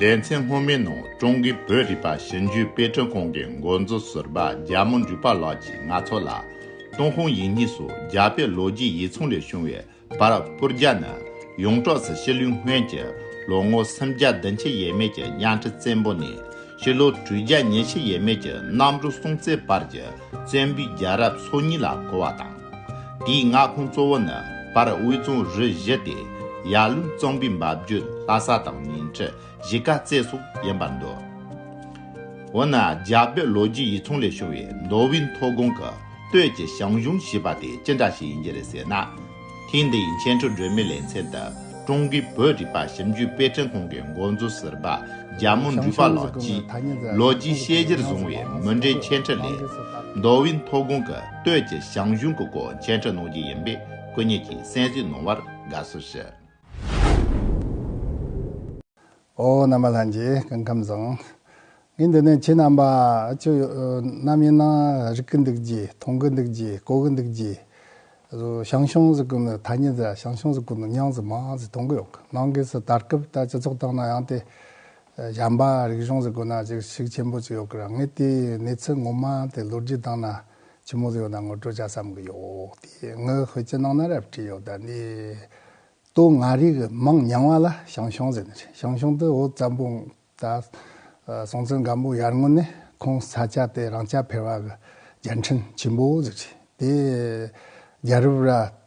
ལེ་ཚན་སྔོན་མའི་ནང་ཀྲུང་གོའི་བོད་རིག་པ་ཞིབ་འཇུག་དཔེ་སྐྲུན་ཁང་གི་འགོ་གཙོ་ཟུར་པ་རྒྱ་མོ་འབྲུག་པ་ལགས་ཀྱིས་ང་ཚོ་ལ། ཏུང་ཧོང་ཡིག་རྙིང་སུ་རྒྱ་བོད་ལོ་རྒྱུས་ཡིག་ཚང་ལས་བྱུང་བའི་བར་སྐུར་རྒྱ་ནི་ཡོངས་གྲགས་སུ་ཕྱི་ལོའི་སྔོན་གྱི་ལོ་ངོ་སུམ་བརྒྱ་བདུན་ཕྱེད་ཡས་མས་ཀྱི་གཡང་ཁྲི་བཙན་པོ་ནས་ཕྱི་ལོ་དྲུག་བརྒྱ་ཉེར་བཞི་ཡས་མས་ཀྱི་གནམ་གྲུ་སྲོང་བཙན་བར་གྱི་བཙན་པོའི་རྒྱལ་རབས་སོ་གཉིས་ལ་གོ་བ་དང། དེའི་མངའ་ཁོངས་གཙོ་བོ་ནི་བར་དབུས་རྫོང་རུ་བཞི་སྟེ། ཡར་ཀླུང་གཙང་པོའི་འབབ་རྒྱུད་ལྷ་ས་དང་ཉིང་ཁྲི་གཞིས་ཀ་རྩེ་སོགས་ཡིན་པར་འདོད། འོ་ན་རྒྱ་བོད་ལོ་རྒྱུས་ཡིག་ཚང་ལས་བྱུང་བའི་མདོ་དབུས་མཐོ་སྒང་གི་སྟོད་ཀྱི་ཞང་ཞུང་ཞེས་པ་དེ་ཅི་འདྲ་ཞིག་ཡིན་གྱི་རེད་ཟེར་ན། ཐེངས་འདིའི་མཁྱེན་སྤྲུལ་སྒྲོན་མེ་ལེ་ཚན་དུ་ཀྲུང་གོའི་བོད་རིག་པ་ཞིབ་འཇུག་དཔེ་སྐྲུན་ཁང་གི་འགོ་གཙོ་ཟུར་པ་རྒྱ་མོ་འབྲུག་པ་ལགས་ཀྱིས་ལོ་རྒྱུས་དཔྱད་གཞིར་བཟུང་བའི་མུ་འབྲེལ་མཁྱེན་ཕྲི་ལས། མདོ་དབུས་མཐོ་སྒང་གི། སྟོད་ཀྱི་ཞང་གཞུང་གི་སྐོར་མཇལ་འཕྲད་གནང་རྒྱུ་ཡིན་པས་སྐུ་ཉིད་ཀྱིས་གསན་གཟིགས་གནང་བར་དགའ་བསུ་ཞུ། ཨོ་རྣམ་པ་ལྷན་རྒྱས་སྐུ་ཁམས་བཟང། ངས་འདི་ནས་ཁྱེད་རྣམ་པ་ཅི་ནམ་ཡིན་ན་རིག་གི་འདུག་རྗེས་མཐོང་གི་འདུག་རྗེས་གོ་གི་འདུག་རྗེས། ཞང་ཞུང་གཟིགས་སྐུ་ནི་ཐ་སྙད་རེད་ཞང་ཞུང་གཟིགས་སྐུ་ནི་ཉང་གཟིགས་མང་གཟིགས་མཐོང་གི་ཡོད་གི་ནང་སྒོས་སུ་ད་སྐབས་ད་སྤྱི་ཚོགས་སྟེང་ན་ཡང་དེ་གཞམ་པ་རིག་གཞུང་ཟེར་དགོས་ན་ཅིག་གཞིག་ཆེན་པོ་ཅིག་ཡོད་གི་རང་ངས་དེའི་གནས་ཚུལ་ངོ་མ་དེ་ལོ་རྒྱུས་སྟེང་ན་ཇི་མོ་ཟིག་ཡོད་ན་ངོ་སྤྲོད་བྱ་བསམ་གི་ཡོད་དེ་ངའི་ཤོད་ཀྱི་ནང་ན་རབ་བྲིས་ཡོད་ད་འདི་སྟུ་ང་རིག་གི་མིང་མྱང་བ་ལ་ཞང་ཞུང་ཟེར་ནི་རེད་ཞང་ཞུང་དུ་འུ་ཙམ་པོ་ད་སོང་ཚུལ་འགའ་འབུ་ཡར་ངོ་ནས་ཁོང་ས་ཆ་དེ་རང་ཅག་ཕེར་བ་གི་རྒྱལ་འཕྲིན་ཆེན་པོ་ཟེར་ཅིག་དེ་རྒྱལ་རབས་ར་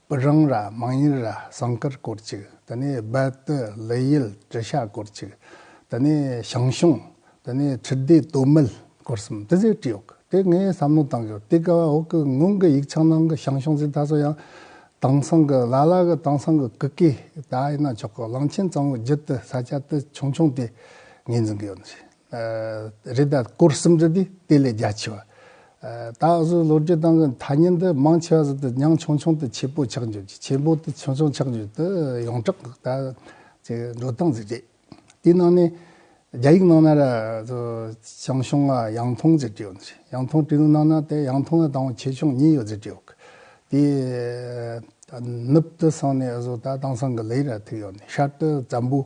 པུ་རང་ར་དམངས་གཉེར་ར་ཟངས་དཀར་སྐོར་གཅིག་དེ་ནས་རྦད་དུ་ལི་ཡུལ་གྲི་ཤ་སྐོར་གཅིག་དེ་ནས་ཞང་ཞུང་དེ་ནས་ཁྲི་ལྡེ་སྟོད་སྨད་སྐོར་གསུམ་དེ་ཟེར་གྲི་ཡོག་དེ་ངས་བསམ་བློ་བཏང་ཡོད་དེ་ག་བ་འོག་གི་སྔོན་གི་ཡིག་ཆགས་ནང་གི་ཞང་ཞུང་ཟེར་ད་གཟོད་ཡང་དྭངས་སང་གི་ལ་ལ་གི་དྭངས་སང་གི་ཀི་ཀི་ད་ཡིན་ན་ཆོག་གི་གླང་ཆེན་གཙང་བོའི་རྒྱུད་དུ་ས་སྐྱ་དེ་ཆུང་ཆུང་དེ་ངས་འཛིན་གི་ཡོད་རེད། རེད་ད། སྐོར་གསུམ་རེད་དེ་དེ་ལས་རྒྱ་ཆེ་བ། ད་འུ་ཚོའི་ལོ་རྒྱུས་སྟེང་གི་ཐ་སྙད་འདི་མང་ཆེ་བ་ཟིན་ཏེ་ཉང་ཆུང་ཆུང་དུ་ཆེ་པོ་ཆགས་འགྱུར་གྱི་ཆེན་པོ་དེ་ཆུང་ཆུང་ཆགས་འགྱུར་དུ་ཡོངས་གྲགས་ད་ཅི་འགྲོ་སྟངས་ཅི་རེད། དེའི་ནང་ནས་རྒྱ་ཡིག་ནང་ན་ར་ཚོ་ཆང་ཤོང་ང་ཡང་ཐུང་ཟེར་གྱི་ཡོད་ནི་རེད་ཡང་ཐུང་བྲིས་ནི་ནང་ན་དེ་ཡང་ཐུང་ང་དང་ཆེ་ཆུང་གཉིས་ཡོད་ཟེར་གྱི་ཡོད་གི། དེའི་ནུབ་དུ་སོང་ནས་འུ་ཚོ་ད་དེང་སང་གི་ལེ་ར་ཐུག་ཡོད་ནི་ཤར་དུ་ཛམྦུ།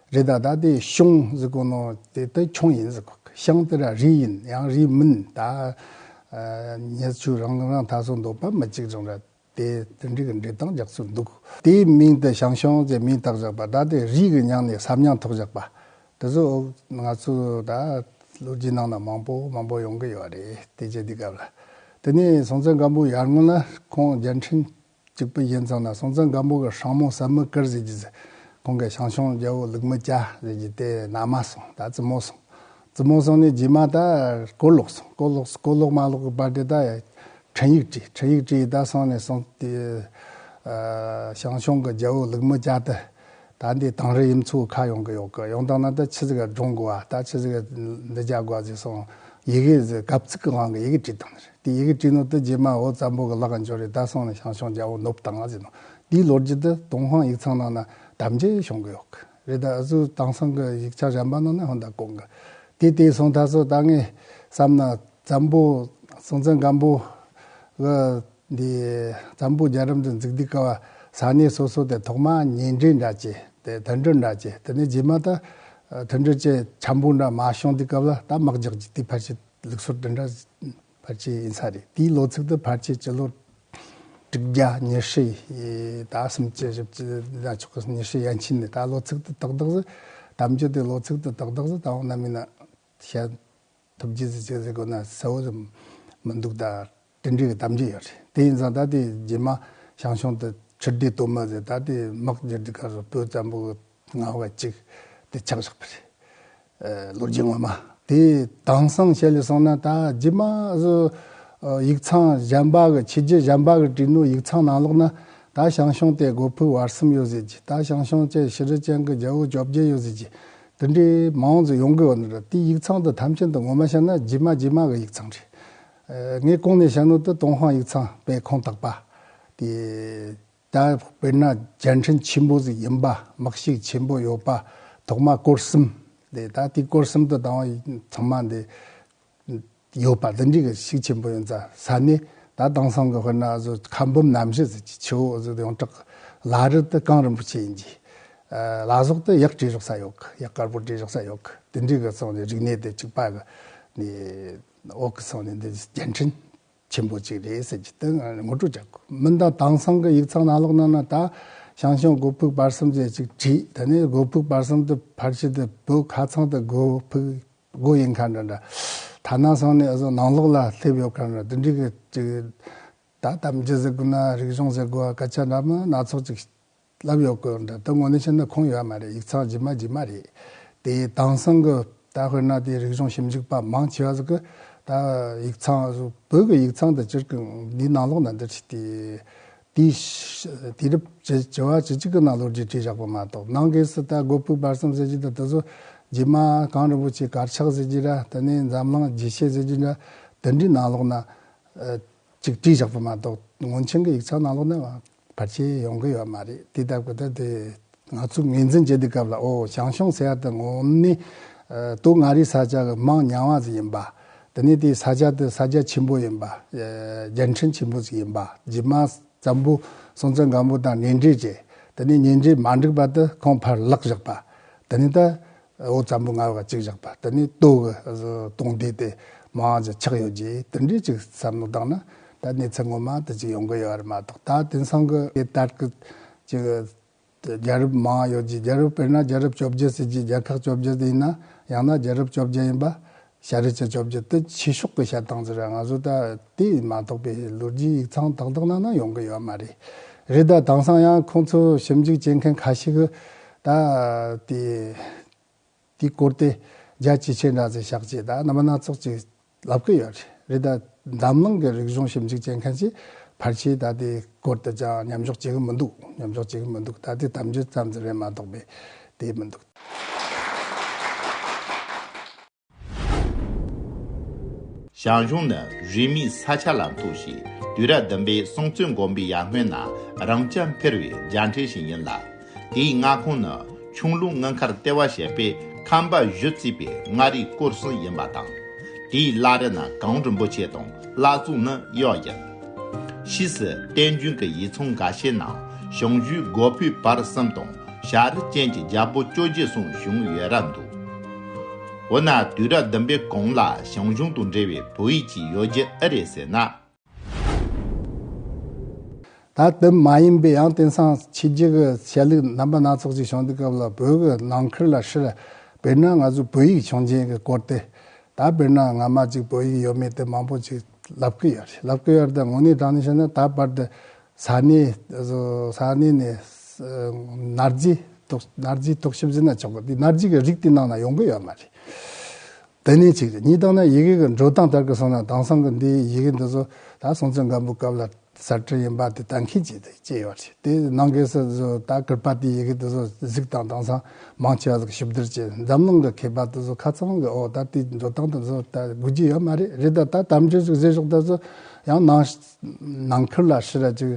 རི་དྭགས་དག་དེའི་གཤོང་གཟིགས་དགོས་ནོ། དེ་དག་ཁྱུང་ཡིན་གཟིགས་དགོས། གཤང་དེ་ར་རི་ཡིན་ཡང་རི་མིན་ད། ཉེར་ཆུ་རང་རང་ཐག་སོ་འདོགས་པ་མི་གཅིག་ཅིང་ར། དེ་དེ་འདྲི་གི་འདྲི་སྟངས་རྒྱག་ཚུལ་འདུག་དེའི་མིང་དེ་གཤང་གཤོང་ཅེས་མིང་བཏགས་བཞག་པ་ད་དེ་རིགས་ཀྱི་ཉང་ནས་ཟབ་ཉང་ཐོག་བཞག་པ། དེ་ཚོ་ང་ཚོ་ད་ལོ་རྒྱུས་ནང་ན་མང་པོ་མང་པོ་ཡོང་གི་ཡོད་རེད་དེ་རྗེས་འདི་སྐབས་ལ། དེ་ནས་སྲོང་བཙན་སྒམ་པོ་ཡར་སྔོན་ལ་ཁོང་རྒྱལ་འཕྲིན། གཅིག་པུ་གཞན་ཚང་ན་སོང་ཙང་སྒམ་པོ་གི་ཧྲང་མོང་ཟབ་མོ་ཀིར་ཟེར་གྱི་ཟེར། ཁོང་གི་ཞང་ཞུང་རྒྱལ་པོ་ལུག་མི་སྐྱ་ཟེར་གྱི་དེ་ན་མ་སོང་ད་བཙུན་མོ་སོང། བཙུན་མོ་སོང་ནས་རྗེས་མ་ད་སྐོར་ལོག་སོང་སྐོར་ལོག་སོང་སྐོར་ལོག་མ་ལོག་གི་བར་དེ་ད་འཕྲིན་ཡིག་བྲིས་འཕྲིན་ཡིག་བྲིས་ད་སོང་ནས་སོང་དེ། ཞང་ཞུང་གི་རྒྱལ་པོ་ལུག་མི་སྐྱ་དེ། ད་འདི་དང་རི་ཡིམ་ཚུགས་ཁ་ཡོང་གི་ཡོག་གི་ཡོང་དང་ན་ད་ཆི་ཟི་ག་སྒྲོང་གོ་ཨ་ད་ཆི་ཟི་ག་འདི་རྒྱག་གོ་ཨ་ཟིག་སོང་ཡི་གི་ཟི་གབ་ཚིག་གི་དབང་གི་ཡི་གི་བྲིས་དང་ནི་རེད་དེ་ཡི་གི་བྲིས་ནོ་ད་རྗེས་མ་ཨོ་ཙམ་པོ་གི་ལག་གི་འབྱོར་རེད་ད་སོང་ནི་ཞང་ཞོང་རྒྱ་བོ་ནུབ་དང་ཨ་ཟིག་ནོ་འདིའི་ལོ་རྒྱུས་ད་དུང་ཧོང་ཡིག་ཚང་ནང་ན་དམ་བཅའི་ཤོང་གི་ཡོག་གི་རེད་ད་ཨ་ཟུ་དང་སང་གི་ཡིག་ཆ་གཞན་པ་ནང་ན་ཧོན་ད་གོང་གི་དེ་དེ་སོང་ད་སོ་ད་ངས་བསམ་ན་ཙམ་པོ་སོང་ཙམ་གམ་པོ་གི། འདི། འཛམ་བུ་རྒྱ་གྲམ་དུ་འཛེག་སྡིག་དཀའ་བ། ཟག་གནས་སོ་སོ་དེ་ཐོག་མ་ཉེ་འབྲེལ་འདྲ་བཅས། དེ་དོན་འགྲོ་འདྲ་བཅས་དེ་ནས་རྗེས་མ་ད། དོན་འགྲོ་བཅས་འཁྱམས་པོ་འདྲ་མ་བྱུང་དུས་སྐབས་ལ་ད་དམག་རྒྱག་རྒྱུ་དེའི་ཕར་ཆེད་ལུགས་སོར་དེ་འདྲ། ཕར་ཆེད་ཡིན་ས་རེད་དེའི་ལོ་ཚིགས་དུ་ཕར་ཆེད་སྤྱི་ལོ། དྲུག་བརྒྱ་ཉེར་ཧྲི་ཡི་ད་སུམ་བཅུ་བཞི་བཅུ་ཟླ་མཆོག་གི་ཉེར་ཧྲི་ཡན་ཕྱིན་ནས་ད་ལོ་ཚིགས་དུ་ཏག་ཏག་ཟི། དམ་ཆོས་དེའི་ལོ་ཚིགས་དུ་ཏག་ཏག་ཟི་ད་འོང་ན་མིན་ན། བཤད། ཐུབ་རྒྱུ་ཟི་བྱས་ཟི་དགོས་ན་གསལ་བོ་ཟི། མི་འདུག་ད། དྲིན་རིག་གདམས་རྒྱུ་ཡོད་རེད་དེ་ཡིན་ཙང་ད་ལྟའི་རྗེས་མ་ཞང་ཞུང་དུ་ཕྱིར་བསྡུས་གཏོར་མ་ཟེར་ད་ལྟའི་དམག་སྦྱར་རྒྱུ་ཁར་བོད་བཙན་པོ་ངག་བ་གཅིག་དེ་ཆགས་བཞག་པ་རེད། ལོ་རྒྱུས་ངོ་མ་དེ་དྭངས་སང་ཞལ་ལས་སོང་ན་ད་རྗེས་མ་སུ་ཡིག་ཚང་གཞན་པ་གི་ཕྱི་རྒྱལ་གཞན་པ་གི་བྲིས་ནོར་ཡིག་ཚང་ནང་ལོག་ན་ད་ཞང་ཞུང་དེ་སྒོ་ཕུག་བར་གསུམ་ཡོད་ཟེར་གྱི་ད་ཞང་ཞུང་བཅས་ཤི་རི་ཅན་གི་རྒྱལ་བོ་བཅོ་བརྒྱད་ཡོད་ཟེར་གྱི་དེ་འདྲའི་མང་གཙོ་ཡོང་གི་ཡོད་ན་དེ་ཡིག་ཚང་དུ་ཐམས་ཅད་དུ་ངོ་མ་བཤད་ན་རྗེས་མ་རྗེས་མ་གི་ཡིག་ཚང་རེད། ངས་ཀོང་ནེ་ཞང་ནོར་དུ་ཏུང་ཧོང་ཡིག་ཚང་པའི་ཁོངས་གཏོགས་པ། དེ་ད་དཔེར་ན་རྒྱལ་ཕྲན་ཆེན་པོ་ཟིག་ཡིན་པ་དམག་གཤིས་ཆེན་པོ་ཡོད་པ་ཐོག་མ་སྐོར་གསུམ་དེ་ད་དེ་སྐོར་གསུམ་དུ་དང་བ་ཚང་མ་དེ་ཡོད་པ་དེ་འདྲི་གི་གཤིས་ཆེན་པོ་ཡོད་ས་ས་ནི་ད་དེང་སང་གི་དཔེར་ན་ཟུ་ཁ་འབུམ་ནམ་ཞི་ཟིག་ཆི་ཆི་འོ་ཟིག་ཡོངས་གྲགས་ལ་རི་དུ་ཀང་རིན་པོ་ཆེ་ཡིན་གྱི། ལ་ཟོག་དུ་གཡག་བྲིས་རོགས་ས་ཡོད་གི་གཡག་དཀར་པོ་བྲིས་རོགས་ས་ཡོད་གི་དེ་འདྲི་གི་སོང་ནི་རིག་གནས་དེ་གཅིག་པ་གི་ནི། འོག་གི་ཚང་ནས་འདི་བརྒྱན་འཕྲིན་ཆེན་པོ་གཅིག་རེད་ཟེར་གྱི་དོན་ངོ་སྤྲོད་བྱ་དགོས། མི་འདང་དྭངས་སང་གི་ཡིག་ཚང་ནང་ལོག་གནང་ན་ད་ཞང་ཞུང་སྒོ་ཕུག་བར་གསུམ་ཅེས་ཅིག་བྲིས་ད་ནི་སྒོ་ཕུག་བར་གསུམ་དུ་ཕར་ཕྱིན་དུ་བོད་ཁ་ཚང་དུ་སྒོ་ཕུག་སྒོ་ཡིན་ཁ་འདྲ་འདྲ་ཐ་ན་སང་ནས་འུ་ཚོ་ནང་ལོག་ལ་སླེབས་ཡོད་ཁ་འདྲ་འདི་འདྲི་གི་ཅིག་ད་དམ་བཅའ་ཟེར་དགོས་ན་རིག་གཞུང་ཟེར་དགོས་ཨ་སྐད་ཆ་འདྲ་མིན་སྣ་ཚོགས་ཅིག་ལབ་ཡོད་སྐོར་འདི་ལྟར་ངོ་ནས་བཤད་ན་ཁུངས་ཡོད་མ་རེད་ཡིག་ཚགས་ཇི་མ་ཇི་མ་རེད། དེའི་དྭངས་སང་གི་ད་དཔེར་ན་དེའི་རིག་གཞུང་ཞིབ་འཇུག་པ་མང་ཆེ་བ་ཟིག་གི་ད་ཡིག་ཚང་བོད་ཀྱི་ཡིག་ཚང་དུ་བསྐྱུར་གི་འདིའི་ནང་ལོགས་ན་འདིར་ཕྱིས་ཏེ། དེའི་དུས་རབས་བྱེ་བ་བྱེ་གཅིག་གི་ནང་ལོ་རྒྱུས་བྲིས་བཞག་པ་མ་གཏོགས་ནང་གི་སི་ཏཱ་སྒོ་ཕུག་བར་གསུམ་ཟེར་རྒྱུ་དང་དེ་ཚོ་རྗེས་མ་གངས་རིན་པོ་ཆེའི་གར་ཆག་ཟེར་རྒྱུ་འདྲ་དེ་ནས་འཛམ་གླིང་རྒྱས་བཤད་ཟེར་རྒྱུ་འདྲ་དེ་འདྲའི་ནང་ལོགས་ན་ཅིག་བྲིས་བཞག་པ་མ་གཏོགས་ངོ་མཁྱེན་གྱི་ཡིག་ཚང་ནང་ལོགས་ན་བར་ཆད་ཡོང་གི་ཡོད་མ་རེད་དེ་ལྟར་གོ་ད་དེ་ང་ཚོ་ངོས་འཛིན་བྱེད་དུས་སྐབས་ལ་ཨོ་ཞང་ཞུང་ཟེར་ཡ་དེ་ངོ་མ་ནི། དུག་མངའ་རིས་ས་ཆ་གི་དམངས་ཉམས་བ་ཟིག་ཡིན་པ། དེ་ནས་དེའི་ས་ཆ་དེ་ས་རྒྱ་ཆེན་པོ་ཡིན་པ། རྒྱལ་ཕྲན་ཆེན་པོ་ཟིག་ཡིན་པ་རྗེས་མ་ཛམ་བུ་སྲོང་བཙན་སྒམ་པོ་དང་གཉེན་འབྲེལ་བྱས་དེ་ནས་གཉེན་འབྲེལ་མ་འགྲིག་པ་དུ་ཁོང་ཕར་བརླག་བཞག་པ། དེ་ནས་ད་འོ་ཙམ་པོ་ངར་བ་གཅིག་བཞག་པ་དེ་ནི་ལྟོ་གི་སྟོང་བསྡུས་ཏེ་མ་འང་ཅིག་ཆགས་ཡོད་ཀྱིས་དེ་འདྲའི་ཅིག་བསམ་མནོ་བདག་ན་ད་གནས་ཚད་ངོ་མ་དེ་ཅིག་ཡོང་གི་ཡོད་རེད་མ་གཏོགས་ད་དེང་སང་གི་དེ་ལྟར་གི་ཅིག་རྒྱལ་རབས་མ་འང་ཡོད་ཀྱིས་རྒྱལ་རབས་དཔེར་ན་རྒྱལ་རབས་བཅོ་བརྒྱད་ཟེར་གྱིས་རྒྱལ་ཁག་བཅོ་བརྒྱད་ཡིན་ན་ཡང་ན་རྒྱལ་རབས་བཅོ་བརྒྱད་ཡིན་པ་ཤ་རི་ཚེ་བཅོ་བརྒྱད་དུ་ཕྱི་ཕྱོགས་ཀྱི་ཤ་ཐང་ཟེར་བ་ང་ཚོ་ད་ལྟའི་མ་གཏོགས་པའི་ལོ་རྒྱུས་ཡིག་ཚང་དག་དག་ནང་ན་ཡོང་གི་ཡོད་མ་རེད། རེད་ད་དེང་སང་ཡང་ཁོང་ཚོ་ཞིབ་འཇུག་བྱེད་མཁན་ཁ་ཤས་ཀྱིས་ད་དེ་དེའི་སྐོར་དེ་རྒྱ་ཇེ་ཆེ་འདྲ་ཚེ་བཤགས་བྱས་ད་ནམ་མ་སྣ་ཚོགས་ཅིག་ལབ་ཀྱི་ཡོད་རེད། རེད་ད། འཛམ་གླིང་གི་རིག་གཞུང་ཞིབ་འཇུག་བྱེད་མཁན་གྱིས་ཕར་ཆེར་ད་ལྟའི་སྐོར་དུ་ཅང་ཉམས་འཇོག་བྱེད་ཀྱི་མི་འདུག་ཉམས་འཇོག་བྱེད་ཀྱི་མི་འདུག་ད་ལྟའི་དམ་འབྱོན་ཙམ་ཙམ་རེད་མ་གཏོགས་པའི་དེ་མི་འདུག། ཞང་ཞུང་ནི་རིས་མེད་ས་ཆ་ལ་འཐུག་ཞིང་དུས་རབས་བདུན་པའི་སྲོང་བཙན་དགོན་པའི་ཡར་སྔོན་ན་རང་སྐྱ་འཕེར་བའི་རྒྱང་ཁྲིད་ཞིག་ཡིན་ལ། དེའི་མངའ་ཁོངས་ནི་ཆུང་ལུགས་དངུལ་མཁར་ལྟེ་བ་བྱས་པའི་ཁམས་པ་བཞི་བརྩིས་པའི་མངའ་རིས་སྐོར་གསུམ་ཡིན་པ་དང། དེའི་བླ་རི་ན་གངས་རིན་པོ་ཆེ་དང་བླ་གཙུག་ནི་གཡོག་ཡིན། ཕྱིས་སུ་བསྟན་རྒྱུན་གྱི་ཡིག་ཚང་འགའ་ཤས་ནང་ཞང་ཞུའི་སྒོ་ཕུད་བར་གསུམ་དང་ཞག་རི་ཅན་གྱི་རྒྱལ་པོ་བཅོ་བརྒྱད་གསུམ་བཞུགས་ཡོད་རབས་འདུག། འོ་ན་དུས་རབས་བདུན་པའི་གོང་ལ་ཞང་ཞུང་དང་འབྲེལ་བའི་བོད་ཡིག་ཅིག་ཡོད་རྒྱུ་ཨེ་རེད་ཟེར་ན། ད་ལྟ་མ་ཡིན་པའི་ཡང་དེང་སང་ཕྱི་རྒྱལ་གྱི་ཆས་ལུགས་རྣམ་པ་སྣ་ཚོགས་ཅིག་བྱུང་དུས་སྐབས་ལ་བོད་ཀྱི་ནང་ཁུལ་ལ་ཧྲིལ། བེར་ནག་ང་ཚོའི་བོད་ཡིག་བྱུང་རྐྱེན་གྱི་སྐོར་སྟེ། ད་བེར་ནག་ང་མ་ཅིག་བོད་ཡིག་ཡོད་མེད་དེ་མང་པོ་ཅིག་ལབ་ཀྱི་ཡོད་རེད་ལབ་ཀྱི་ཡོད་རེད་དང་ངོ་ནས་དྲང་ནས་བཤད་ན་ད་བར་དུ་ས་གནས་ས་གནས་ནས་ནར་རྗེའི་ཐོག་ནར་རྗེའི་ཐོག་ཤི་བཞི་ན་ཆོག་གི་འདུག་ནར་རྗེ་གི་རིགས་དེ་ནང་ན་ཡོང་གི་ཡོད་མ་རེད། དེ་ནི་གཅིག་རེད་གཉིས་བཏང་ན་ཡི་གེ་གི་འགྲོ་སྟངས་ལྟར་གི་སོང་ན་དེང་སང་གི་འདིའི་ཡི་གེ་འདི་ཚོ་ད་སོང་ཚོད་འགའ་འབུད་སྐབས་ལ་གསར་བཀྲིན་ཡིན་པ་དེ་གཏན་འཁེལ་གྱིས་དེ་སྐྱེས་ཡོད་རེད་དེ་ནང་གི་སི་ཚོ་ད་ཀིར་པཱ་ཏིའི་ཡི་གེ་འདི་ཚོ་གཟིགས་དང་དེང་སང་མང་ཆེ་བ་ཟིག་ཞིབ་བསྡུར་གྱིས་འཛམ་གླིང་གི་མཁས་པ་དེ་ཚོ་ཁ་ཚང་གི་འོག་ད་དེའི་འགྲོ་སྟངས་དེ་ཚོ་ད་དགོས་ཀྱི་ཡོད་མ་རེད་རེད་ད་ད་དམ་ཆོས་ཅིག་བཟོས་ཤོག་དེ་ཚོ་ཡང་ནང་ནང་ཁུལ་ལ་ཕྱི་ར་ཅིག་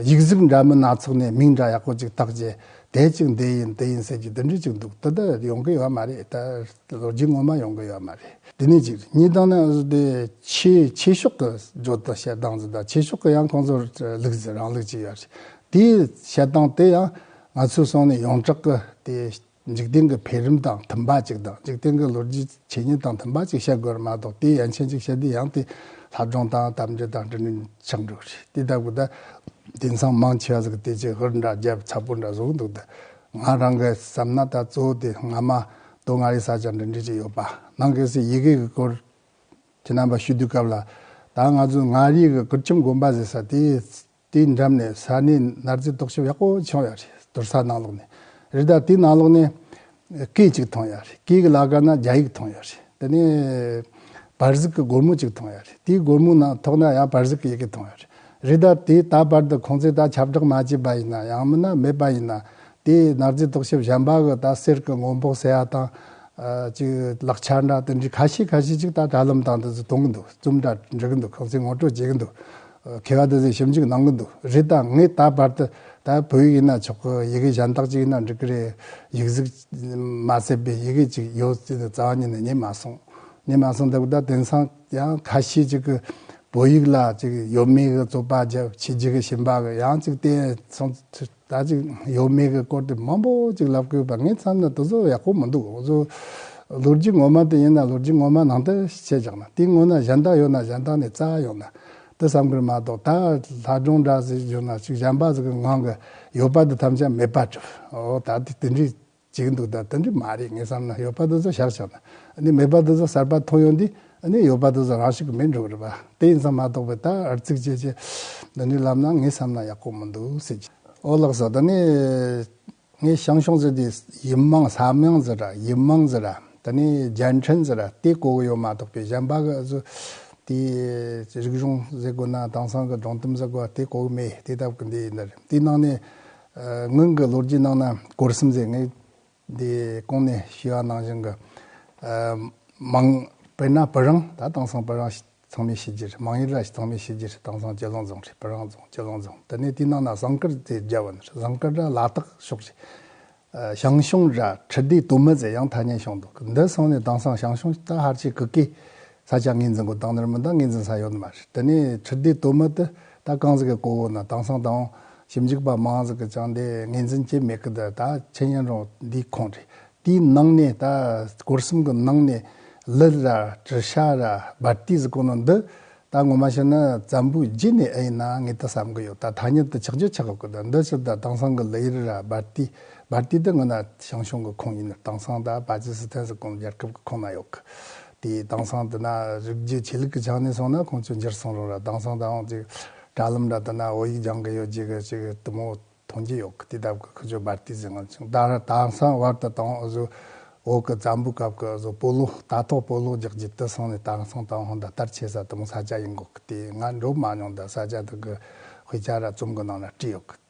ཡིག་གཟུགས་འདྲ་མིན་སྣ་ཚོགས་ནས་མིང་འདྲ་ཡག་པོ་ཅིག་བཏགས་རྗེས་དེ་ཅིག་འདི་ཡིན་དེ་ཡིན་ཟེར་གྱི་དེ་འདྲི་གཅིག་འདུག་དེ་ལྟར་ཡོང་གི་ཡོད་མ་རེད་དེ་ལོ་རྒྱུས་ངོ་མ་ཡོང་གི་ཡོད་མ་རེད་དེ་ནི་གཅིག་རེད་གཉིས་དང་ནི་དེ་ཕྱིའི་ཕྱི་ཕྱོགས་ཀྱི་བརྗོད་དོན་བཤད་སྟངས་འདི་དང་ཕྱི་ཕྱོགས་ཀྱི་ཡང་ཁོང་ཚོར་ལུགས་ཟེར་རང་ལུགས་ཅིག་ཡོད་རེད་དེའི་བཤད་སྟངས་དེ་ཡང་ང་ཚོའི་སོང་ནས་ཡོངས་གྲགས་ཀྱི་དེ་འཇིག་རྟེན་གྱི་འཕེལ་རིམ་དང་མཐུན་པ་ཅིག་དང་འཇིག་རྟེན་གྱི་ལོ་རྒྱུས་ཀྱི་ཆོས་ཉིད་དང་མཐུན་པ་ཅིག་བཤད་དགོས་ར་མ་གཏོགས་དེའི་ཡ་མཆན་ཅིག་བཤད་དུས་ཡང་དེ་ལྷ་སྒྲུང་དང་གཏམ་རྒྱུད་དང་འབྲེལ་ནས་ཆགས་འགྲོ་གི་རེད་དེ་ལྟ་བུ་ད་དེང་སང་མང་ཆེ་བ་ཟིག་གི་དེ་ཅི་ཧུར་འདྲ་རྒྱབ་ཚ་པོ་འདྲ་བཟོ་གི་འདུག་ད་ང་རང་གི་བསམ་ན་ད་གཙོ་བོ་དེ་ང་མ་གཏོགས་ང་རི་ས་ཅང་འབྲེལ་འདྲིས་ཅིག་ཡོད་པ་ནང་གི་སི་ཡི་གེ་གི་སྐོར་གྱི་རྣམ་པ་ཞུས་དུས་སྐབས་ལ་ད་ང་ཚོས་ང་རིའི་གི་ཀུར་ཁྱིམ་དགོན་པ་ཟེར་ས་དེ་དེའི་འགྲམ་ནས་ས་གནས་ནར་རྫས་རྟོག་ཞིབ་ཡག་པོ་བྱུང་ཡོད་རེད་དུར་ས་ནང་ལོགས་ནས་རི་དྭགས་དེའི་ནང་ལོགས་ནས། སྐད་ཅིག་མཐོང་ཡོད་རེད་སྐད་ཀྱི་ལ་ག་ན་རྒྱ་ཡིག་མཐོང་ཡོད་རེད་དེ་ནས། བར་གཟིགས་ཀྱི་སྒོར་མོ་གཅིག་མཐོང་ཡོད་རེད་དེའི་སྒོར་མོའི་ནང་ཐོག་ན་ཡང་བར་གཟིགས་ཀྱི་ཡི་གེ་མཐོང་ཡོད་རེད་རི་དྭགས་དེས་ད་བར་དུ་ཁོང་ཚོས་ད་ཁྱབ་བསྒྲགས་མ་བྱས་པ་ཡིན་ན་ཡང་མིན་ན་མེད་པ་ཡིན་ན་དེས་ནར་རྫས་རྟོག་ཞིབ་གཞན་པ་གི་ད་གསེར་གྱི་སྔོན་དཔོག་ཟེར་ཡ་དང། ཅིག་ལག་ཆ་འདྲ་དེ་འདྲའི་ཁ་ཤས་ཁ་ཤས་ཅིག་ད་དྲ་ལམ་དང་འདི་ཚོ་གཏོང་གི་འདུག་རྩོམ་འདྲ་འབྲི་གི་འདུག་ཁོང་ཚོས་ངོ་སྤྲོད་བྱེད་ཀྱི་འདུག་མཁས་པ་དེ་ཚོས་ཞིབ་འཇུག་གནང་གི་འདུག་རེད་ད་ངས་ད་བར་དུ་ད་བོད་ཡིག་ཡིན་ན་ཆོག་གི་ཡི་གེ་གཞན་དག་ཅིག་ཡིན་ན་འགྲིག་གི་རེད་ཡིག་གཟུགས་མ་བསྲེས་པའི་ཡི་གེ་ཅིག་ཡོད་ཚུལ་དུ་རྩ་བ་ཉིད་ནས་རྙེད་མ་སོང་རྙེད་མ་སོང་སྟབས་ད་དེང་སང་ཡང་ཁ་ཤས་ཅིག་གིས་བོད་ཡིག་ལ་ཅིག་ཡོད་མེད་གི་རྩོད་པ་བྱེད་རྒྱུ་གི་བཞིན་པ་གི་ཡང་ཅིག་བལྟས་སོང་ཚུལ། ད་ཅིག་ཡོད་མེད་ཀྱི་སྐོར་དེ་མང་པོ་ཅིག་ལབ་དགོས་པ་ངའི་མཚམས་ན་དེ་ཚོ་ཡག་པོ་མི་འདུག་བཟོ། ལོ་རྒྱུས་ངོ་མ་དེ་ཡིན་ན་ལོ་རྒྱུས་ངོ་མ་ནང་དོན་ཤེས་བཞག་ན་དེའི་སྔོན་ན་གཞན་དག་ཡོད་ན་གཞན་དག་ནས་རྩ་བ་ཡོང་ན་དེ་བསམ་དགོས་མ་གཏོགས་ད་ལྷ་སྒྲུང་འདྲ་ཟེར་གྱི་ཡོད་ན་ཅིག་གཞན་པ་ཟེར་གྱི་ངང་གི་ཡོད་པ་དེ་ཐམས་ཅད་མེད་པར་གྱུར་འོ་ད་དེ་དེ་འདྲའི་གཅིག་འདུག་ད་དོན་འདི་མ་རེད་ངས་བསམ་ན་ཡོད་པ་དེ་ཚོ་བཞག་ཆགས་ན་ནི་མེད་པ་དེ་ཚོ་གསར་པ་ཐོན་ཡོང་དུས་ནི་ཡོད་པ་དེ་ཚོ་རང་ཞིག་གི་མིན་འགྲོ་གི་རེད་པ་དེ་ཡིན་ཙང་མ་གཏོགས་པའི་ད་ཨར་ཚིག་ཅེས་ཅེས་འདི་འདྲའི་ལབ་ན་ངས་བསམ་ན་ཡག་པོ་མི་འདུག་ཟེར་གྱི། ཨོ་ལགས་ཟེར་ད་ནི་ངས་ཞང་ཞུང་ཟེར་དེ་ཡིན་དམངས་ས་དམངས་ཟེར་ར་ཡིན་དམངས་ཟེར་ར་ད་ནི་རྒྱལ་འཕྲིན་ཟེར་ར་དེ་གོ་གི་ཡོད་མ་གཏོགས་པའི་གཞན་པ་གི་ཟུ་དེའི་རིག་གཞུང་ཟེར་དགོས་ན་དེང་སང་གི་སྒྲུང་གཏམ་ཟེར་དགོས་པ་དེ་གོ་གི་མེད་དེ་ལྟ་བུ་གི་འདི་ཡིན་ད་རེད་དེའི་ནང་ནས་སྔོན་གྱི་ལོ་རྒྱུས་ནང་ན་གོར་སིམ་ཟེར་ངེས་འདི་གོང་ནས་ཞུས་བ་ནང་བཞིན་གྱི། མང་དཔེར་ན་བུ་རང་ད་དེང་སང་བུ་རང་ཚང་མའི་ཕྱི་རྒྱུད་མང་ཡུལ་ར་བྱི་ཚང་མའི་ཕྱི་རྒྱུད་དེང་སང་སྤྱི་ལོང་རྫོང་རེད་བུ་རང་རྫོང་སྤྱི་ལོང་རྫོང་དེ་ནས་དེའི་ནང་ན་ཟངས་དཀར་རྫས་རྒྱ་བ་ན་རེད་ཟངས་དཀར་ར་ལ་དྭགས་ཕྱོགས་རེད། ཞང་ཞུང་ར་ཁྲི་ཟླའི་དུ་མི་ཟེར་ཡང་ཐ་སྙད་བྱུང་འདུག་འདི་སོང་ནས་དེང་སང་ཞང་ཞུང་ད་ཧར་ཆེ་གི་ཀའི་ས་ཆ་ངེས་འཛིན་གོ་དང་ནོར་མི་དང་ངེས་འཛིན་ས་ཡོད་ནི་མ་རེད་དེ་ནས་ཁྲི་ལྡེ་དོ་མི་དེ་ད་རྐང་ཟིག་གི་གོ་བོ་ན་དང་སང་དང་ཞིབ་འཇུག་པ་མང་ཟིག་གི་ཅང་དེ་ངེས་འཛིན་བྱེད་མེད་གི་དེ་ད་ཆེན་ཡན་རོང་དེའི་ཁོངས་རེད་དེའི་ནང་ནས་ད་སྐོར་གསུམ་གི་ནང་ནས་ལི་ར་དྲི་ཤ་ར་སྦར་རྟི་ཟིག་གོ་ནོ་འདི་ད་ངོ་མ་ཤི་ན་ཙམ་བུའི་རྗེས་ནས་ཨེ་ཡིན་ན་ངེད་དེ་བསམ་གི་ཡོད་ད་ཐ་སྙད་དུ་ཆག་རྒྱུ་ཆག་གི་གོ་དེ་འདི་ཕྱིར་ད་དང་སང་གི་ལི་ཡི་རི་ར་སྦར་རྟི་སྦར་རྟི་དེ་ངོ་ན་ཞང་ཞུང་གི་ཁོངས་ཡིན་ནི་དང་སང་ད་བ་ཇི་སི་ཐན་ཟིག་གོ་ནོ་རྒྱལ་ཁབ་གི་ཁོངས་ན་ཡོད་གི། དེ་དེང་སང་ལྟ་ན་རིགས་རྒྱུད་ཆོས་ལུགས་ཀྱི་ཆ་ནས་སོང་ན་ཁོང་ཚོས་འགྱུར་སོང་རུང་ར་དེང་སང་དང་ཅིག་དྲ་ལམ་འདྲ་ལྟ་ན་བོད་ཡིག་སྦྱང་གི་ཡོད་ཅེས་གི་ཅིག་དུ་མོ་མཐོང་རྒྱུ་ཡོད་གི་དེ་ལྟ་བུ་ཁོ་ཚོས་སྦར་ཏིས་ཟིན་ཅིང་ད་ར་དེང་སང་བར་ད་དུང་གཟུགས་འོག་གི་ཙམ་པོའི་སྐབས་ཀྱི་གཟུགས་སྤོ་ལོ་ད་ཐོག་སྤོ་ལོ་རྒྱག་རྒྱུ་དེ་སོང་ནས་དེང་སང་ད་ཧོན་ད་ལྟར་ཆེ་ས་དུ་མོ་ས་སྐྱ་ཡིན་དགོས་གི་དེ་ང་འགྲོ་མ་མྱོང་ད་ས་སྐྱ་དག་གི་དཔེ་ཆ་ར་རྩོམ་གི་ནང་ལ་བྲིས་ཡོད་གི།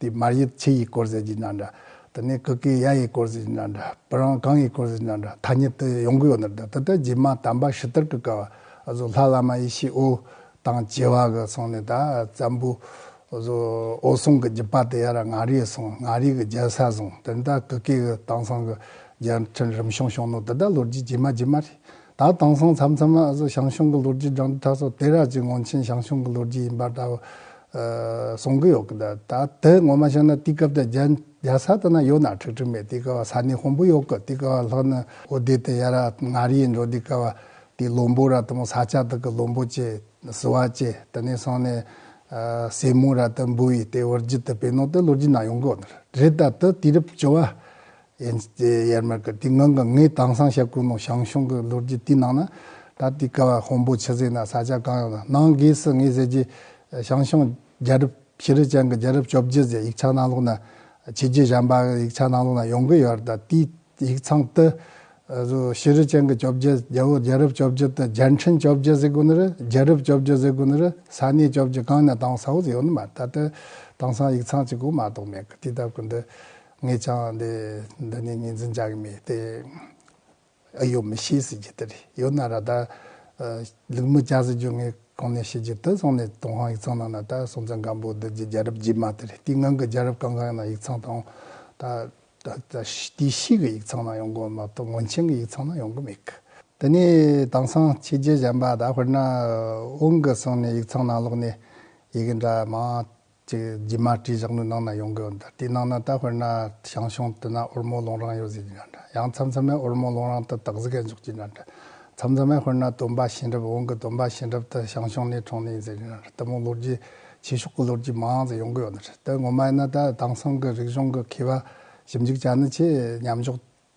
དེས་མར་ཡི་ཆི་ཡི་སྐོར་ཟེར་གྱི་ན་འདྲ། དེ་ནས་ཀི་ཀི་ཡ་ཡི་སྐོར་ཟེར་གྱི་ན་འདྲ། བུ་རང་གང་ཡི་སྐོར་ཟེར་གྱི་ན་འདྲ་ཐ་སྙད་དུ་ཡོང་གི་ཡོད་ན་འདྲ་ད་ལྟ་རྗེས་མ་དམ་པ་ཞི་དར་གི་སྐལ་བ་བཟོ་ལྷ་བླ་མ་ཡེ་ཤེས་ཨོ་དང་བྱེ་བ་གི་སོང་ནས་ད་ཙམ་བུ་བཟོ་ཨོ་སོང་གི་རྒྱུད་པ་དེ་ཡ་ར་ང་རིའི་སོང་ང་རིའི་གི་རྒྱལ་ས་སོང་དེ་ནས་ད་ཀི་ཀི་གི་དང་སང་གི་རྒྱལ་ཕྲན་རིམ་བྱུང་བྱུང་ནོ་ད་ལྟ་ལོ་རྒྱུས་རྗེས་མ་རྗེས་མ་རེད། ད་དེང་སང་མཚམས་མཚམས་ཨ་ཟོ་ཞང་ཞུང་གི་ལོ་རྒྱུས་སྦྲང་རྩི་ཁྲ་སོགས་དེ་རགས་ཀྱི་ངོ་མཁྱེན་ཞང་ཞུང་གི་ལོ་རྒྱུས་ཡིན་པ་འདྲ་བོ་གསུང་གི་ཡོད་གི་འདུག་ད་དེ་ངོ་མ་ཤེས་ན་དེའི་སྐབས་དེ་རྒྱལ་ས་དེ་ན་ཡོད་ན་ཁྲིག་ཁྲིག་མེད་དེའི་སྐབས་ས་གནས་དཀོན་པོ་ཡོད་གི་དེའི་སྐབས་ལྷོ་ནུབ་ཨོ་བདེ་དེ་ཡ་ར་ང་རི་ཡི་འགྲོ་དེའི་སྐབས་དེའི་བློན་པོ་ར་དེ་མོ་ས་སྐྱ་དག་གི་བློན་པོ་བཅས་ཟི་བ་བཅས་དེ་ནས་སོང་ནས་སྲས་མོ་ར་དེ་འབུལ་བའི་དེའི་བར་རྒྱུད་དེ་བེ་ནོ་དེ་ལོ་རྒྱུས་ནང་ཡོང་གི་འདུག་རེད་ད་དེ་དུས་རབས་བཅོ་བ་ཡན་ཅི་ཙེ་ཡར་མར་གྱི་དུས་འགངས་ཀྱི་ངའི་དྭངས་གསང་ཞབས་ཀུན་ནོ་ཞང་ཞུང་གི་ལོ་རྒྱུས་དུས་ནང་ན། ད་ལྟའི་ཀ་བ་ཧོང་པོ་ཆུ་ཟེ་ན་ས་ཆ་གང་ཡོད་ན་ནང་སྒོས་སུ་ངས་ཟེར་རྒྱུ། ཞང་ཞུང་རྒྱལ་རབས་ཤི་རི་ཅན་གྱི་རྒྱལ་རབས་བཅོ་བརྒྱད་ཟེར་ཡིག་ཆ་ནང་ལོགས་ན། ཆོས་རྒྱུད་གཞན་པ་གི་ཡིག་ཆ་ནང་ལོགས་ན་ཡོང་གི་ཡོད་རེད་ད་ལྟའི་ཡིག་ཚང་དུ། ཤི་རི་ཅན་གྱི་བཅོ་བརྒྱད་རྒྱལ་བོ་རྒྱལ་རབས་བཅོ་བརྒྱད་དུ་རྒྱལ་འཕྲིན་བཅོ་བརྒྱད་ཟེར་དགོས་ནི་རེད་རྒྱལ་རབས་བཅོ་བརྒྱད་ཟེར་དགོས་ནི་རེད་ས་གནས་བཅོ་བརྒྱད་གང་ཡིན་ན་དྭངས་གསང་བོ་ཟེར་ཡོད་ནི་མ་རེད་ད་ལྟ་དྭངས་གསང་ཡིག་ཚང་གཅིག་གོ་མ་གཏོགས་མེད་གི་དུས་སྟབས་ཀྱི་འདི། ངེད་ཅག་འདི་འདི་ནས་ངེས་འཛིན་བྱ་གི་མེད་དེ། ཨེ་ཡོད་མི་ཤེས་ཟེར་གྱི་དེ་རེད་ཡོད་ན་ར་ད། ལུག་མི་བྱ་ཟེར་རྒྱུ་ངས་གང་ནས་ཤེས་རྒྱུ་དེ་སོང་ནས་ཏུང་ཧང་ཡིག་ཚང་ནང་ན་ད་སྲོང་བཙན་སྒམ་པོ་འདི་རྒྱལ་རབས་རྗེས་མ་དེ་རེད་དེའི་སྔོན་གྱི་རྒྱལ་རབས་གང་གང་ཡོད་ན་ཡིག་ཚང་དང། ད་དེའི་ཕྱིས་ཀྱི་ཡིག་ཚང་ན་ཡོང་གི་མ་གཏོགས་སྔོན་ཆེན་གྱི་ཡིག་ཚང་ན་ཡོང་གི་མེད་གི། འདི་ནས་དེང་སང་ཕྱི་རྒྱལ་གཞན་པ་ད་དཔེར་ན་དབུང་གི་སོང་ནས་ཡིག་ཚང་ནང་ལོག་ནས་ཡི་གི་འདྲ་མང་ཅེས་རྗེས་མར་བྲིས་བཞག་ནུས་གནང་ན་ཡོང་གི་འོན་ཏེ་དེའི་ནང་ན་ད་དཔེར་ན་ཞང་ཞུང་དུ་ན་འོལ་མོ་ལུང་རང་ཡོད་ཟེར་གྱི་འདྲ་འདྲ་ཡང་མཚམས་མཚམས་མས་འོལ་མོ་ལུང་རང་དུ་དག་ཟིག་ག་འཇོག་གྱི་འདྲ་འདྲ་མཚམས་མཚམས་མས་དཔེར་ན་སྟོན་པ་ཤིང་རབ་འོང་གི་སྟོན་པ་ཤིང་རབ་དུ་ཞང་ཞུང་ནས་གྲོངས་ནས་ཡིན་ཟེར་གྱི་འདྲ་འདྲ་ལྟ་མོ་ལོ་རྒྱུས་ཆེ་ཤོག་གི་ལོ་རྒྱུས་མང་ཟེར་ཡོང་གི་ཡོད་འདྲ་འདྲ་དེ་ངོ་མ་ཡིན་ན་ད་དེང་སང་གི་རིག་གཞུང་གི་མཁས་པ་ཞིབ་འཇུག་བྱ་ནི་ཆེས་ཉམས་འཇོག་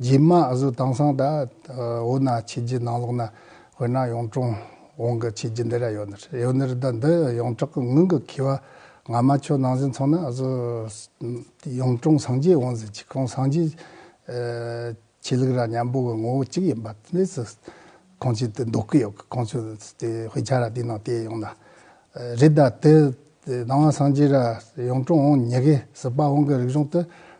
རྗེས་མ་ཨ་ཟོ་དང་སང་ད་འོ་ན་ཁྱེད་ཀྱི་ནང་ལོགས་ན་དཔེར་ན་ཡོངས་གྲོང་འོང་གི་ཁྱེད་ཀྱི་འདི་ར་ཡོད་ནི་ཡོད་ནི་རི་དྭགས་འདི་ཡོངས་གྲགས་ཀྱི་ངང་གི་ཁེ་བ་ང་མ་ཁྱོད་ནང་བཞིན་ཚང་ན་ཨ་ཟོ་ཡོངས་གྲོང་སངས་རྒྱས་འོང་ཟིན་ཁྱི་གང་སངས་རྒྱས་ཁྱེད་ལུག་ར་མཉམ་པོ་གི་ངོ་བོ་གཅིག་ཡིན་པ་དེ་སུ་གང་ཁྱེད་དེ་འདོག་གི་ཡོད་གི་གང་ཁྱོད་དེ་དཔེ་ཆ་ར་དེ་ནང་བལྟས་ཡོང་ན་རི་དྭགས་དེ་ནང་སངས་རྒྱས་ར་ཡོངས་གྲོང་འོང་ཉེ་གི་ཟིལ་པ་འོང་གི་རིག་གཞུང་དེ་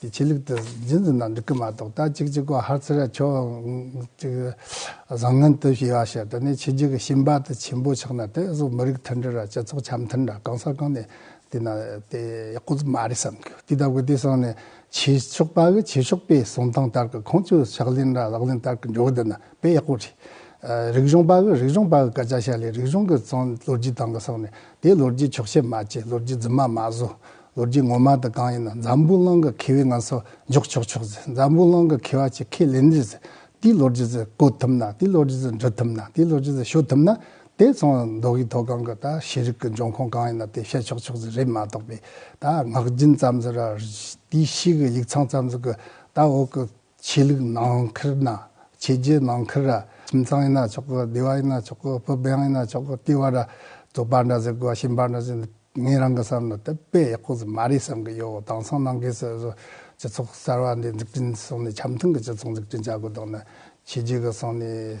དེ་ཆོས་ལུགས་དེ་རྒྱུན་དུ་ན་འགྲིག་གི་མ་གཏོགས་ད་ཅིག་ཅིག་པོ་ཧར་ཚེ་ར་ཆོས་ཅིག་བཟང་ངན་དུ་ཞེས་བ་ཞེས་དེ་ནས་ཆོས་རྒྱུད་ཀྱི་ཤིང་པ་དེ་ཆེན་པོ་ཆགས་ན་དེ་སོགས་མི་རིགས་མཐུན་སྒྲིལ་ར་སྤྱི་ཚོགས་འཆམ་མཐུན་ར་གང་ས་གང་ནས་དེ་ན་དེ་ཀོ་ཙི་མ་རེད་བསམ་དགོས་དེ་ལྟ་བུ་དེ་སོང་ནས་ཆོས་ཕྱོགས་པ་གི་ཆོས་ཕྱོགས་པའི་གསུང་སྟངས་ལྟར་གྱི་ཁོང་ཆོས་ཕྱག་ལེན་ར་ལག་ལེན་ལྟར་གྱི་འགྲོ་གི་འདི་ན་དཔེ་ཡག་པོ་རེད། རིག་གཞུང་པ་གི་རིག་གཞུང་པ་གི་སྐད་ཆ་བཤད་ལས་རིག་གཞུང་གི་ཚོང་ལོ་རྒྱུས་སྟངས་གི་སོང་ནས་དེ་ལོ་རྒྱུས་འཁྱོག་བཤད་མ་བྱེད་ལོ་རྒྱུས་རྫུན་མ་མ་བཟོ་ལོ་རྒྱུས་ངོ་མ་དང་གང་ཡིན་ན་འཛམ་བུ་གླང་གི་ཁེ་བས་ང་ཚོ་འཇོག་ཆོག་ཆོག་ཟེར་འཛམ་བུ་གླང་གི་ཁེ་བ་ཆེ་ཁེ་ལེ་འདི་ཟེར་དེའི་ལོ་རྒྱུས་ཟེར་བཀོད་ཐུབ་ན་དེའི་ལོ་རྒྱུས་ཟེར་འབྲི་ཐུབ་ན་དེའི་ལོ་རྒྱུས་ཟེར་ཞུ་ཐུབ་ན་དེ་ཚོ་མདོ་དབུས་མཐོ་སྒང་གི་ད་ཤེས་རིག་གི་འབྱུང་ཁུངས་གང་ཡིན་ན་དེ་བཤད་ཆོག་ཆོག་ཟེར་རེད་མ་གཏོགས་པའི་ད་ངག་རྒྱུན་ཙམ་ཟེར་ར་དེའི་ཕྱིའི་གི་ཡིག་ཚང་ཙམ་ཟེར་གི་ད་འོག་གི་ཆོས་ལུགས་ནང་ཁུལ་ན་ཆོས་བརྒྱུད་ནང་ཁུལ་ར་ཁྱིམ་ཚང་ཡིན་ན་ཆོག་གི་སྡེ་བ་ཡིན་ན་ཆོག་གི་བུ་འབངས་ཡིན་ན་ཆོག་གི་ལྟེ་བ་ར་རྫོགས་པ་འདྲ་ཟེར་དགོས་ཤིང་པ་འདྲ་ཟེར་ངས་རང་གི་བསམ་ན་དེ་དཔེ་ཡག་པོ་ཟིག་མ་རེད་བསམ་གི་ཡོད་དེང་སང་ནང་ཁུལ་སོ་སོ་སྤྱི་ཚོགས་གསར་བ་འདི་འཛུགས་སྐྲུན་སོང་ནས་འཆམ་མཐུན་གྱི་སྤྱི་ཚོགས་འཛུགས་སྐྲུན་བྱ་དགོས་དོགས་ན་ཆོས་བརྒྱུད་གི་སོང་ནས།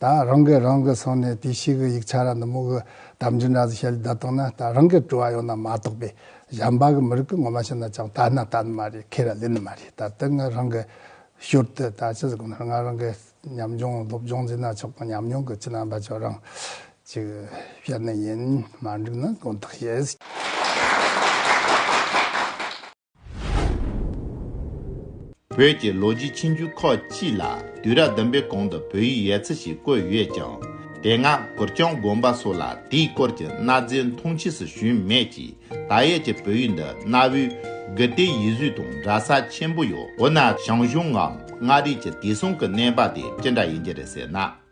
ད་རང་གིས་རང་གི་སོང་ནས་དེ་ཤི་གི་ཡིག་ཆ་ར་འདི་མོ་གི་དམ་ཅི་འདྲ་ཟི་ཤད་ལི་ད་དང་ན་ད་རང་གིས་དྲུ་བ་ཡོང་ན་མ་གཏོགས་པའི་ཞམ་པ་གི་མི་རིགས་གི་ངོ་མ་ཤི་ན་ཅང་ད་ན་ད་ནི་མ་རེད་ཁེ་ར་ལི་ནི་མ་རེད་ད་དེ་ང་རང་གི་ཞོར་དུ་ད་ཅི་ཟི་གོ་ནར་ང་རང་གི་ཉམས་ཆུང་སློབ་སྦྱོང་ཟི་ན་ཆོག་དང་ཉམས་མྱོང་གི་ཅི་ན་འབའ་ཆོག་རང་ཅིག་བཤད་ནི་ཡིན་མ་འགྲིག་ན་དགོངས་དག་བྱེད། བོད་ཀྱི་ལོ་རྒྱུས་ཆེན་རྒྱུན་ཁག་གཅིག་ལ་དུས་རབས་བདུན་པའི་གོང་དུ་བོད་ཡིག་ཡལ་ཚིག་ཞིག་བཀོད་ཡོད་ཀྱང་དེ་སྔ་གུར་སྐྱོང་དགོན་པ་སོགས་ལ་དེའི་སྐོར་གྱི་གནའ་རྫས་མཐོང་ཆས་སུ་བྱུང་མེད་ཀྱི་ད་ཡལ་གྱི་བོད་ཡིག་འདི་གནའ་བོའི་དགུ་སྡེའི་ཡིག་གཟུགས་དང་འདྲ་ས་ཆེན་པོ་ཡོད་འོ་ན་ཞང་ཞུང་ངམ་མངའ་རིས་ཀྱི་དེ་གསུམ་གྱི་གནས་བབ་དེ་ཅི་འདྲ་ཡིན་གྱི་རེད་ཟེར་ན།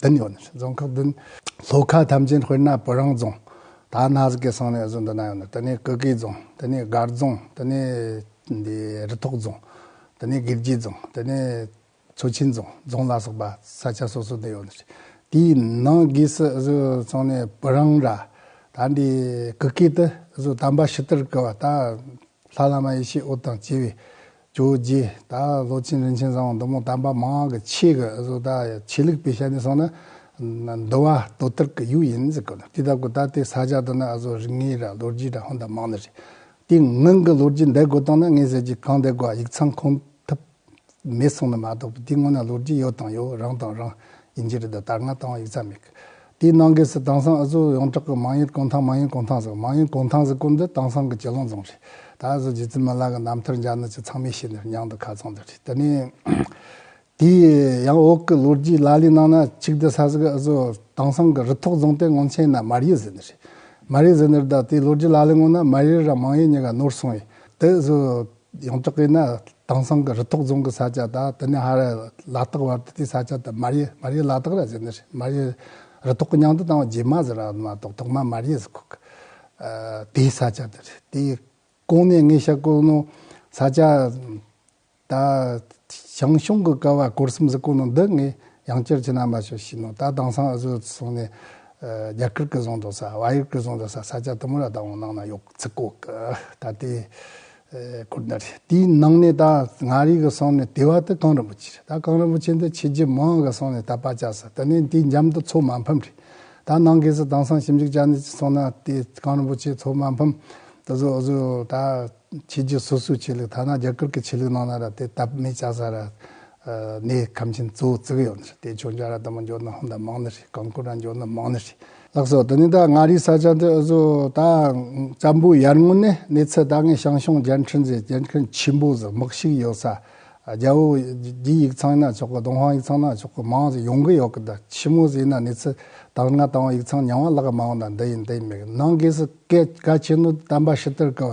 བདུན་ཡོད། རྫོང་ཁག་བདུན། ལྷོ་ཁ་ཐམས་ཅད་དཔེར་ན་བུ་རང་རྫོང། ད་ནག་གི་སང་ནས་བཟུང་དུ་ན་ཡོད། དེ་ནས་ཀུ་ཀི་རྫོང། དེ་ནས་སྒར་རྫོང། དེ་ནས་རི་ཐོག་རྫོང། དེ་ནས་དགེ་བརྒྱད་རྫོང། དེ་ནས་མཚོ་ཆེན་རྫོང་རྫོང་ལ་སོགས་པ་ས་ཆ་སོ་སོ་དུ་ཡོད། དེའི་ནང་གི་སུ་གཟུགས་ཚང་ནས་བུ་རང་ར། ད་འདི་ཀུ་ཀི་དུ་གཟུགས་དམ་པ་ཕྱི་དར་ཀུ་བ་ད། ལྷ་བླ་མ་ཡེ་ཤེས་ཨོ་དང་བཅས་པའི་ཇོ་བོ་རྗེ་དང་ལོ་ཆེན་རིན་ཆེན་བཟང་བོ་མདོ་མོ་དམ་པ་མང་གི་ཆེ་གི་བཟོ་ལྟ་ཆེ་ལུགས་པའི་ཞལ་ནས་གསུངས་ན། མདོ་བ་དོ་ཏིར་གི་ཡུལ་ཡིན་ཟེར་དགོས། དེ་ལྟ་གོ་ད་ལྟའི་ས་ཆ་དུ་ན་བཟོ་རིག་ངེས་ར་ལོ་རྒྱུས་དང་ཧོན་དང་མང་ནི་རེད། དེ་སྔོན་གྱི་ལོ་རྒྱུས་འདེད་དགོས་དང་ན་ངེས་ཟེར་གྱི་གང་འདེད་དགོས་ཡིག་ཚང་ཁུངས་ཐུབ། མེད་གསུངས་ན་མ་གཏོགས་པ་འདི་སྔོན་ན་ལོ་རྒྱུས་ཡོད་དང་ཡོད་རང་དང་རང་ཡིན་གྱི་རེད་དོ་དར་ནག་བཏང་བ་ཡིག་ཚགས་མེད་དེའི་ནང་གི་སི་དང་སང་ཨ་ཟོ་ཡོངས་གྲགས་ཀྱི་མང་ཡུལ་ཀོང་ཐང་མང་ཡུལ་ཀོང་ཐང་ཟེར་མང་ཡུལ་ཀོང་ཐང་ཟེར་སྐོར་འདི་དང་སང་གི་གྱེ་ལོང་རྫོང་རེད་ད་ཨ་ཟོ་རྗེ་བཙུན་མ་ལགས་ཀྱི་རྣམ་ཐར་འཇགས་ནི་ཆུ་ཚང་མའི་ཤེས་ནི་ཉང་དུ་ཁ་ཚང་འདི་རེད་དེ་ནས་དེའི་ཡང་འོག་གི་ལོ་རྒྱུས་ལ་ལས་གནང་ན་ཆིག་སྡེ་ས་ཟིག་ཨ་ཟོ་དང་སང་གི་རི་ཐོག་རྫོང་སྟེ་ངོམ་ཆེན་ན་མར་ཡུལ་ཟེར་ནི་རེད་མར་ཡུལ་ཟེར་ནི་རེད་ད་དེའི་ལོ་རྒྱུས་ལ་ལས་ངོ་ན་མར་ཡུལ་ར་མང་ཡུལ་གཉིས་ཀ་ནོར་སོང་ཡོད་དེ་ཨ་ཟོ། ཡང་དག་གིས་ནི་དེང་སང་གི་རི་ཐོག་རྫོང་གི་ས་ཆ་དང་དེ་ནས་ཧ་ར་ལ་དྭགས་བར་དུ་དེའི་ས་ཆ་དེ་མར་ཡེ་མར་ཡེ་ལ་དྭགས་ར་ཟེར་ནི་རེད་མར་ཡེ་རི་ཐོག་གི་མྱང་དུ་བཏང་བ་རྗེས་མ་ཟེར་ར་མ་གཏོགས་ཐོག་མ་མར་ཡེ་ཟེར་ཁུག་དེའི་ས་ཆ་དེ་རེད་དེའི་གོང་ནས་ངས་ཤར་ཀོ་ནོ་ས་ཆ་ད་ཞང་ཞུང་གི་ཀ་བ་སྐོར་གསུམ་ཟེར་ཀོ་ནོ་འདི་ངས་ཡང་བསྐྱར་ཕྱི་ནང་མ་ཤོད་ཤེས་ནོ་ད་དེང་སང་ཨ་ཟོ་སོང་ནས་རྒྱ་གར་གི་རྫོང་དུ་ས་བྷ་ཡུར་གི་རྫོང་དུ་ས་ས་ཆ་དུ་མ་ར་དྭགས་བང་ནང་ན་ཡོད། ཚིག་ཀོག་གི་ད་ལྟའི་ཁུར་འདར་ཞིག་དེའི་ནང་ནས་ད་ང་རིག་གི་སོང་ནས་དེ་བ་དེ་གངས་རིན་པོ་ཆེ་རེད་ད་གངས་རིན་པོ་ཆེ་འདི་ཆེས་རྗེ་མང་གི་སོང་ནས་ད་པ་ཅག་སུ་ད་ནས་འདི་འཇམ་དུ་ཚོགས་མ་ཕམ་རེད་ད་ནང་གི་སུ་དང་སང་ཞིབ་འཇུག་ཅག་ནས་ཅི་སོང་ན་དེ་གངས་རིན་པོ་ཆེ་ཚོགས་མ་ཕམ་ད་གཟོད་གཟོད་ད་ཆེས་རྗེ་སོ་སོའི་ཆོས་ལུགས་ཐ་ན་རྒྱ་གར་གི་ཆོས་ལུགས་ནང་ན་ར་དེ་ད་མེད་ཅག་ས་ར་གནས་ཁམས་ཆེན་གཙོ་བོ་བརྩིགས་ཡོད། དེ་ཕྱོགས་འཇའ་ར་དང་མོ་འཇོ་ནི་ཧོན་དང་མང་ནི་ཧྲི་གང་ཀུ་ར་འཇོ་ནི་མང་ནི་ཧྲི། ལགས་སོ། དེ་ནི་ད་མངའ་རིས་ས་ཆ་འདི་འུ་ཟོ་ད་ཙམ་པོའི་ཡར་སྔོན་ནས་གནས་ཚུལ་ད་སྔའི་ཞང་ཞུང་རྒྱལ་འཕྲིན་ཟེར་རྒྱལ་འཕྲིན་ཆེན་པོ་ཟེར་མག་ཞིག་ཡོད་ས་རྒྱ་བོ་རྒྱའི་ཡིག་ཚང་ཡིན་ན་ཆོག་གི་ལྡོང་ཧང་ཡིག་ཚང་ཡིན་ན་ཆོག་གི་མང་ཟེར་ཡོང་གི་ཡོད་གི་ད་ཕྱི་མོ་ཟེར་ཡིན་ན་གནས་ཚུལ་དང་སྔ་དང་བ་ཡིག་ཚང་ཉམས་བ་ལགས་མང་བ་ད་འདི་ཡིན་དེ་ཡིན་མེད་གི་ནང་སྒོས་སུ་སྐད་ག་ཆེན་ནོ་དམ་པ་ཕྱི་དར་གི་བ་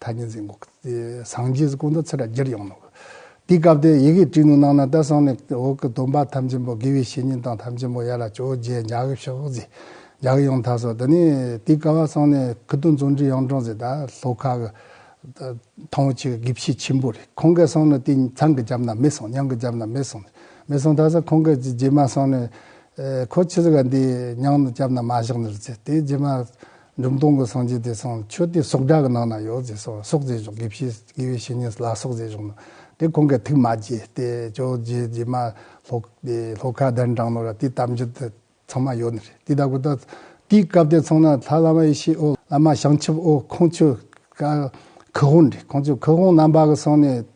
ཐ་སྙད་འཛིན་འགོག་སངས་རྒྱས་སྐུ་མདོག་ཚེ་ར་རྒྱལ་ཡོངས་ནོར། དེའི་སྐབས་དེར་ཡི་གེ་བྲིས་ནོར་གནང་ན་ད་སང་ནས་འོག་གི་སྡོམ་པ་ཐམས་ཅན་པོ་དགེ་བའི་བཤེས་གཉེན་དང་ཐམས་ཅན་པོ་ཡར་ལ་བྱོ་རྗེ་འཇག་གི་ཕྱག་བཞེས་འཇག་ཡོངས་ཐ་སོ་དེ་ནས་དེའི་སྐབས་བ་སང་ནས་ཁུ་དོན་རྫོང་འབྲི་གཡང་སྒྲོང་ཟེར་ད་ལྷོ་ཁ་གི། ཐང་བོ་ཆེ་གི་དགེ་བཤེས་ཆེན་པོ་རེད་ཁོང་གས་སང་ནས་དེ་ཚང་གི་རྒྱབ་ན་མེད་སོང་ཉང་གི་རྒྱབ་ན་མེད་སོང་མེད་སོང་ཐ་ས་ཁོང་གས་ཀྱི་རྗེས་མ་སང་ནས། ཁོ་ཁྱི་ཟི་ག་འདི་ཉང་གི་རྒྱབ་ན་མ་བཞག་ནི་རུ་ཚེ་དེ་རྗེས་མ། འབྲུམ་སྟོང་གི་སངས་རྒྱས་དེ་ཚང་མཆོད་དེ་སྲོག་དགྲ་གི་ནང་ན་ཡོད་ཟེར་སོགས་སྲོག་རྫས་གཞོག་དགེ་བཤེས་དགེ་བའི་བཤེས་གཉེན་ལ་སྲོག་རྫས་གཞོག་ནོ། དེ་གོང་གི་ཐིག་མ་རྗེ་དེ་ཇོ་རྗེ་རྗེ་མ་ལྷོ་ཁ་གདན་དྲངས་ནོ་ར་དེ་དམ་ཆོས་དེ་ཚང་མ་ཡོད་ནི་རེད་དེ་དག་གོ་ད་དེའི་སྐབས་དེ་ཚང་ན་ལྷ་བླ་མ་ཡེ་ཤེས་ཨོ་བླ་མ་བྱང་ཆུབ་ཨོ་ཁོང་ཆོས་ཀྱི་ཁུ་དབོང་རེད་ཁོང་ཆོས་ཀྱི་ཁུ་དབོང་རྣམ་པ་གི་སང་ནས་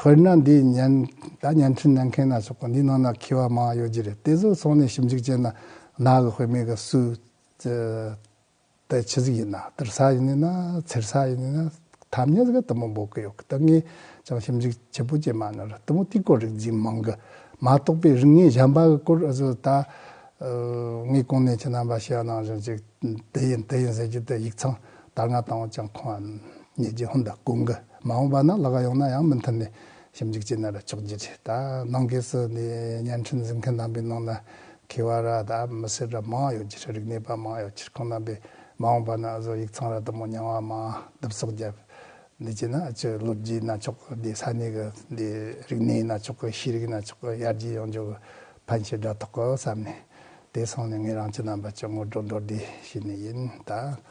དཔེར་ན་འདི་བརྙན། ད་བརྙན་འཕྲིན་གནང་མཁན་སྣ་ཚོགས་འདིའི་ནང་ན་མཁས་པ་མང་ཡོད་ཀྱི་རེད་དེ་ཚོ་ཚོགས་ནས་ཞིབ་འཇུག་བྱས་ན་ནག་གི་དཔེ་མེད་གི་སུའི་དཔེ་ཇི་ཟིག་ཡིན་ན་བསྟར་ས་ཡིན་ནི་ན་འཚེར་ས་ཡིན་ནི་ན་ཐ་སྙད་ཟེར་གི་དུ་མོ་འབོག་གི་ཡོད་གི་ད་ངས་ཀྱང་ཞིབ་འཇུག་བྱེད་པོ་བྱས་མ་ནོར་དུ་མོ་དེའི་སྐོར་རིག་འཛིན་མང་གི་མ་གཏོགས་པའི་རིག་གནས་གཞན་པ་གི་སྐོར་ཨ་ཙི་ད་ངས་གོང་ནས་ཁྱེད་རྣམ་པ་ཤེས་ཡོང་གནང་བཞིན་ཅིག་འདི་ཡིན་དེ་ཡིན་ཟེར་རྒྱུ་དེ་ཡིག་ཚང་དར་ནག་དང་བ་ཅང་ཁོང་འམ་གཉིས་ཀྱིས་ཧོན་དང་ཀུན་དགའ་མ་འོངས་པ་ན་ལ་ག་ཡོང་ན་ཡང་མི་མཐུན་ནས་ཞིབ་འཇུག་བྱས་ན་ར་ཆོག་རྒྱུ་རེད་ད་ནང་གེས་སུ་ནི་བརྙན་འཕྲིན་འཛིན་མཁན་རྣམ་པའི་ནང་ན་མཁས་བ་ར་ད་མི་སེར་ར་མང་ཡོད་རྒྱུ་རེད་རིག་གནས་པ་མང་ཡོད་རྒྱུ་རེད་ཁོང་རྣམ་པས་མ་འོངས་པ་ན་བཟོ་ཡིག་ཚང་ར་དུ་མོ་རྙིང་བ་མང་བསྡུ་བསོག་བརྒྱབ་འདི་བྱས་ན་ཨ་ཅི་ལོ་རྒྱུས་ན་ཆོག་གི་འདི་ས་གནས་གི་འདི་རིག་གནས་ན་ཆོག་གི་ཤེས་རིག་ན་ཆོག་གི་ཡར་རྒྱས་ཡོང་རྒྱུ་གི་ཕན་ཆེ་དྲ་ཐོག་གི་བསམ་ནས་དེ་སོང་ནས་ངེད་རང་ཅི་རྣམ་པ་ཅི་ངོ་སྤྲོད་འགྲོ་བདེ་བྱས་ནས་ཡིན་ད།